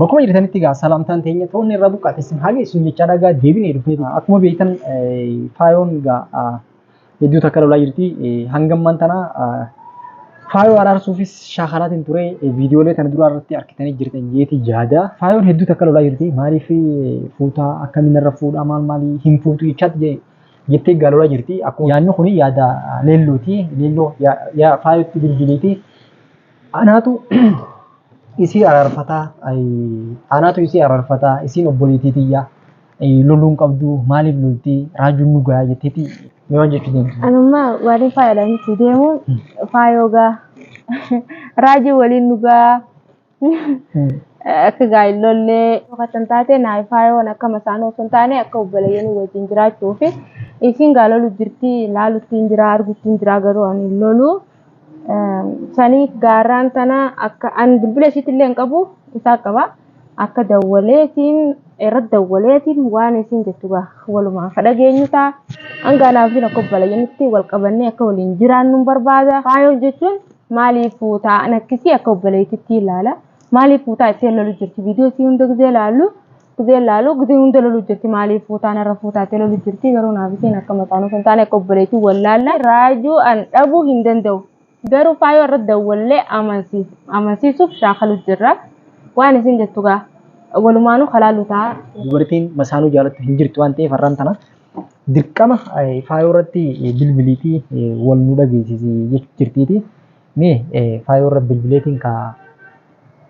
Bakkuma jirtanitti egaa salaamtaan teenya toonni irra buqqaate isin haa geessu jechaa dhagaa deebinee dhufee akkuma beektan faayoon egaa hedduu takka lolaa jirti hangammaan tana faayoo araarsuufis shaakalaatiin ture viidiyoolee kana duraa irratti argitanii jirtan jeeti yaada faayoon hedduu takka lolaa jirti maaliif fuutaa akkamiin irra fuudhaa maal maalii hin fuutu jechaatti jee jettee egaa lolaa jirti akkuma yaadni kun yaada leelluuti leelluu faayootti bilbiliiti Anaatu isii araarfataa anaatu isii araarfataa isiin obboleetii tiyyaa loluun qabduu maaliif loltii raajuun nu gayaa jetteetii mee waan jechuu deemtu. Anummaa waanii faayoodhaan itti deemuun faayoo gaa raajuu waliin nu gaa akka gaa hin lollee fakkan taate naaf faayoon akka masaanuu osoo hin taane akka obboleeyyanuu wajjin jiraachuu fi isiin gaa lolu jirtii laalutti hin jiraa argutti hin jiraa garuu ani hin loluu. Saniif gaarraan tana akka an bilbila ishiitti illee hin qabu isaa qaba. Akka dawwaleetiin irratti dawwaleetiin waan isiin jettu gaa walumaa akka dhageenyu ta'a. Hanga anaa fi akka obboleeyyannitti wal qabannee akka waliin jiraannu hin barbaada. Faayoo jechuun maaliif fuutaa an akkisii akka obboleettitti ilaala. Maaliif fuutaa ittee lolu jirti viidiyoo isii hunda gizee ilaallu. Gizeen laalu gizeen hunda lolu jirti maaliif fuutaan irra fuutaattee lolu jirti garuu naaf isheen akka mataa nuuf hin taane akka obboleetii wallaalla raajuu an dhabuu hin danda'u garuu faayoo irra dawwallee amansiisuuf shaakalu jirra waan isin jettu gaa walumaanuu kalaalu ta'a. Dubartiin masaanuu jaalattu hin jirtu waan ta'eef har'aan tana dirqama faayoo irratti bilbiliitii wal nu dhageessisi jechuu jirtiiti mee faayoo irra bilbileetiin kaa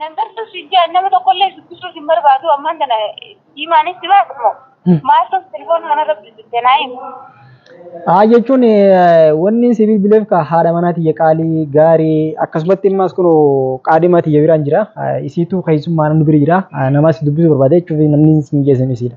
Nan galchus hin jedhan nama tokkollee dubbisuus hin barbaadu ammaan tana diimaanis si baatu moo maal ta'u telefoona kanarra bilbilte naa himu. Haa jechuun wanni si bilbileef ka haadha manaa tiyya qaalii gaarii akkasumatti immaas kun qaadima tiyya biraan jira isiitu keessummaan nu bira jira namas dubbisuu barbaada jechuuf namni si mijeessan isiidha.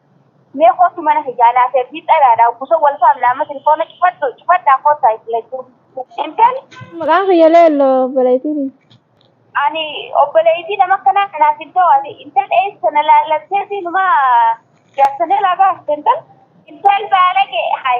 Mee koottu mana kiyyaa naaf ergii xalaadhaan buso wal faamna amma tilifoona cufadhu cufadhaa koottaa isin lachuu. Intal. Maqaan kiyya leello obboleettiiti. Ani obboleettii nama akkanaa kanaaf hin ta'u ati intal eessa na laallatteeti numaa jaarsa na laa baafte intal. Intal baalage hay.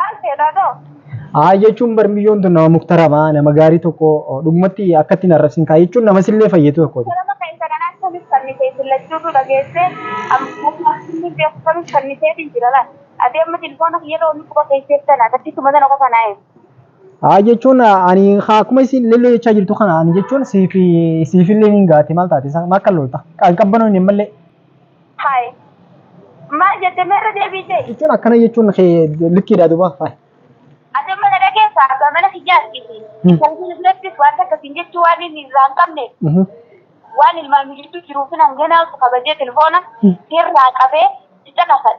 Maal seetaa too? Haa jechuun bar miyyoon tun nama muktaramaa nama gaarii tokko dhugumatti akkatti hin arrabsin kaa jechuun nama sillee fayyadu tokkooti. Sababa keessa kan akkamiif fannitee isin lachuutu dhageessee amma inni beeku kamiif fanniseetiin jira laal. Ati amma tilfoona kiyya loomii quba keesseef tana takkisuma tana qofa naa eegu. Haa jechuun ani haa akkuma isin lilloo jechaa jirtu kana ani jechuun siifi siifillee niin gaate maal taate isaa maal kan lolta kan qabbanoon hin malle Haay. Maal jette mee irra deebii ta'e? Jechuun akkana jechuun kee likkiidha duuba. Haay. Ati mana dhageessa abbaa mana kiyyaa argite. Hmm. Kan isin birattis waan takka isin jechuu waan inni irraa hin qabne Mhm. waan ilmaan mijichuu jiruuf hin hanganaa kabajee telefoona Hmm. sirraa qabee si caqasan.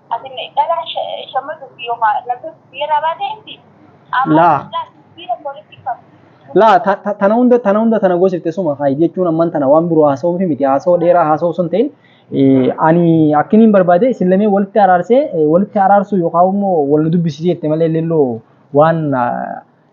Asin dhalaa shamarru fi yookaan namni biyyaraa baatee miti. Laa. Amma sibiira walitti qabu. Laa ta- ta- tana hunda tana hunda tana gosifte suma haa jechuun amman tana waan biroo haasa'uu fi miti haasa'uu dheeraa haasa'uu sun ta'in eh, ani akkiniin barbaade isin lamee walitti araarsee eh, walitti araarsuu yookaan immoo wal nu dubbisiisee jette malee lilloo waan ah,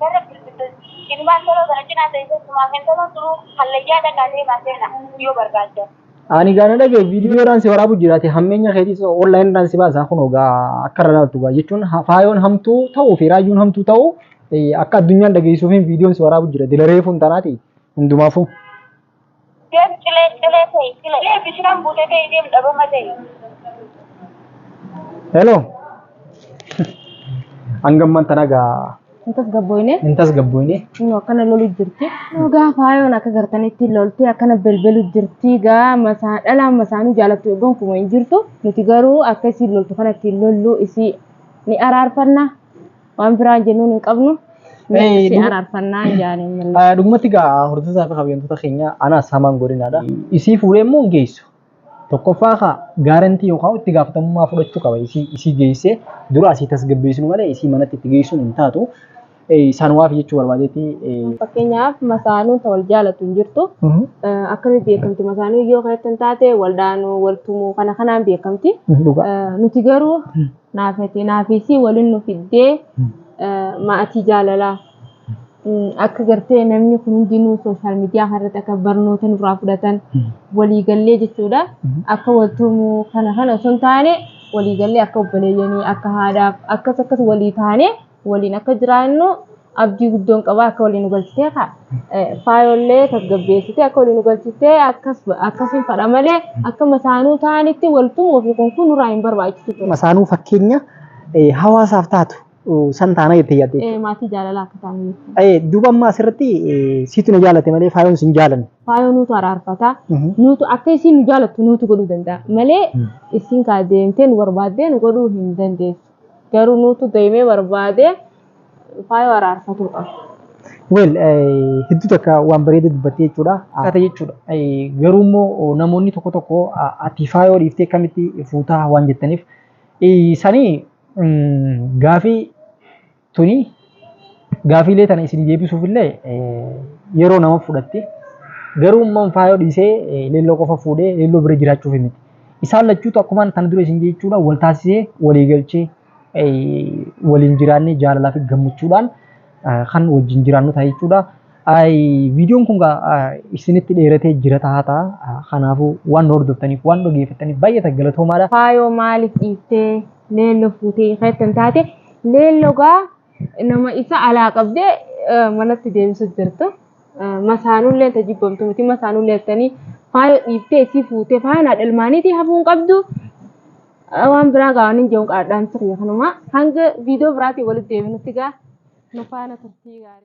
Warra Filiphisxus. Ilmaan Toloo kana cinaa teessee sumaaf intalon tuluu hallayyaa dhaqaa deemaa seena yoo barbaaddan. Ani gaa na dhagahi video dhaan si waraabu jira ati hammeenya keetis online dhaan si baasa kunoo gaa akka irra laaltu gaa jechuun ha- faayoon hamtuu ta'uu fi raayyuun hamtuu ta'uu eh, akka addunyaan dhageessuufiin videon si waraabu jira dila reefuun tanaati hundumaafuu. Deem cilee cilee ta'e cilee bishaan buute ta'e deem dhabama ta'e. Hello. Hanga ammaan tana gaa Hin tasgabboofne. hin tasgabboofne. Inni akkana lolu jirti. Dhugaa faayoon akka gartanitti loltee akkana belbelu jirti. Gaa masaa dhalaa masaanuu jaalattu eeggoon kuma hin jirtu. Nuti garuu akka isiin loltu kanatti hin lollu isii ni araarfanna. Waan biraa jennuun hin qabnu. Mee Ee, si dhuma- araarfannaa hin jaane malee. Ah, Dhugumatti egaa hordoftoota fi kabajamtoota keenya anaas hamaan godinaadha. Isii fuudhee immoo hin geessu. Tokkoffaa kaa gaarantii yookaan itti gaafatamummaa fudhachuu qaba. Isii isii geessee dura asii tasgabbeessinu malee isii manatti itti geessuun hin taatu. Eh, Isaan waaf jechuu barbaadeetti. eh, Fakkeenyaaf masaanuun ta wal jaalatu hin jirtu. mhm, Eh, Akkamitti beekamti masaanuu yoo kan ittiin taate wal dhaanuu wal tumuu kana kanaan beekamti. dhugaa. Eh, Nuti garuu naafate naafeesii walin nu fiddee maatii jaalalaa akka gartee namni kun hundinuu sooshaal miidiyaa kanarratti akka barnoota nurraa fudhatan waliigallee jechuudha akka waltumuu kana kana osoo hin taane waliigallee akka obboleeyyanii akka haadhaaf akkas akkas walii taanee waliin akka jiraannu abdii guddoon qaba akka waliin nu galchitee ka faayollee tasgabbeessitee akka waliin nu galchitee akkas akkasiin fadha malee akka masaanuu ta'anitti waltumuu fi kun kun nurraa hin barbaachisu ture. Masaanuu fakkeenya eh, hawaasaaf taatu eh, san taana jettee yaadde. Eh, Maatii jaalalaa akka ta'an jechuudha. Eh, Duuba amma asirratti eh, siitu na jaalate malee faayoon sin jaalanne. Faayoo nuutu araarfata. Mhm. Nuutu akka isiin nu jaalattu nuutu godhuu danda'a malee isiin kaa deemtee nu barbaaddee nu godhuu hin dandeessu. Garuu nuutu deemee barbaadee faayoo araarfatuu qaba. Weel hedduu takka waan bareeda dubbattee jechuudha. Akkata jechuudha. Garuu immoo namoonni tokko tokko ati faayoo dhiiftee akkamitti fuutaa waan jettaniif sanii gaafii Tuni gaafiilee tana isin deebisuuf illee yeroo nama fudhatti. Garuu umman faayoo dhiisee leelloo qofa fuudhee leelloo bira jiraachuuf miti. Isaan lachuutu akkumaan kana dura isin jechuudha wal taasisee walii galchee waliin jiraannee jaalalaa fi gammachuudhaan kan wajjin jiraannu ta'a jechuudha. Ay viidiyoon kun gaa isinitti dheeratee jira tahaa ta'a. Kanaafuu waan nu hordoftaniif waan dhageeffattaniif baay'ee ta'a galatoomaadha. Faayoo maaliif dhiiftee leello fuutee keettan taate leello gaa nama isa alaa qabdee manatti deebisu jirtu masaanullee ta jibbamtu miti masaanullee jettanii faayoo dhiiftee isii fuutee faayaan haadha ilmaaniitii hafuun qabdu waan biraa gaa waan hin jehuun qaadhaan sirrii kanumaa hanga viidiyoo biraatiin walitti deebinutti gaa nu faana turtii gaarii.